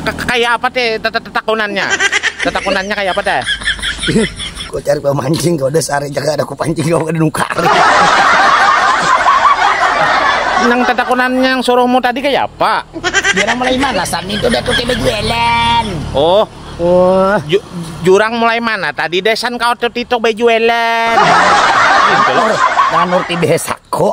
Kaya apa te tetakunannya? Tetakunannya kaya apa te? Kau cari pemancing kau udah sehari jaga ada aku pancing kau ada nukar. Nang tetakunannya yang suruhmu tadi kaya apa? Jurang mulai mana sami itu udah tuke bejualan. Oh, oh. Ju jurang mulai mana tadi desan kau tuh tito bejualan. Jangan nurti desa kok.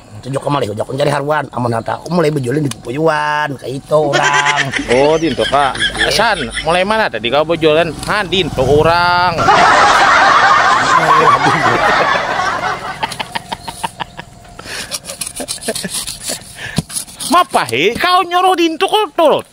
Tunjuk kamu lagi ujak aku cari haruan amun harta aku mulai bejulin di pupuyuan kayak itu orang oh dinto kak san mulai mana tadi kau bejualan ha dinto orang Mapahe kau nyuruh dinto kau turut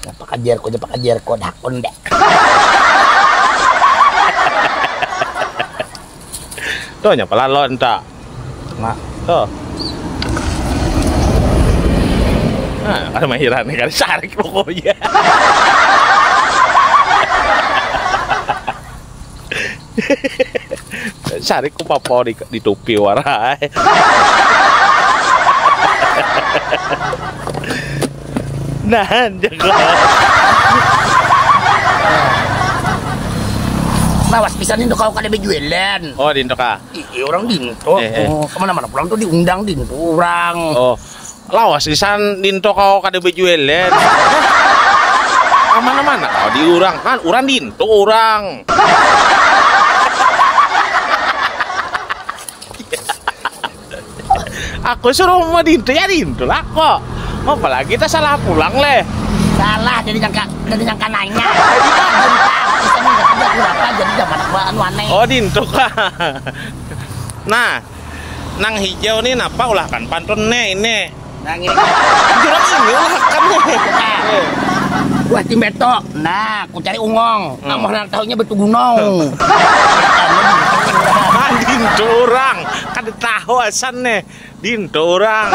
Napa kajar ko, napa kajar ko, dakun dek. Tuh nya pala lawan ta. Nah, tuh. Nah, kada mahiran kada sarik pokoknya. Cari ku papo di, di tupi warai. nah, jago. Lawas bisa nih kau kada bejualan. Oh, di ah. Iya, orang di Eh, eh. Oh, kemana-mana pulang tuh diundang di orang. Oh. Lawas isan dinto kau kada bejuelan. Kamana mana kau di urang kan urang dinto urang. Aku suruh mau dinto ya dinto lah ko. Apa lagi ta salah pulang leh. Salah jadi nyangka jadi nyangka nanya. Oh dinto kah. Nah. Nang hijau nih napa ulahkan pantun ne ini. Nang ini. Jurang ini ulahkan nih. Buah timbeto. Nah, ku cari ungong. Hmm. Amoh nang tahunya betu gunong. Nah, dintu orang. Kada tahu asan nih. Dintu orang.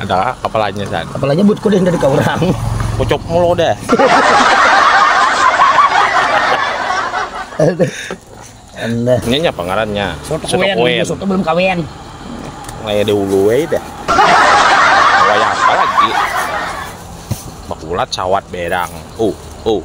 Ada kepalanya san. Kepalanya buat kuda yang dari kau orang. Pucuk mulu deh. Anda. Ini apa ngarannya? Soto kuen. kuen. Soto belum kawin. Kayak dulu eh deh. Kayak apa lagi? Bakulat sawat berang. Uh, uh.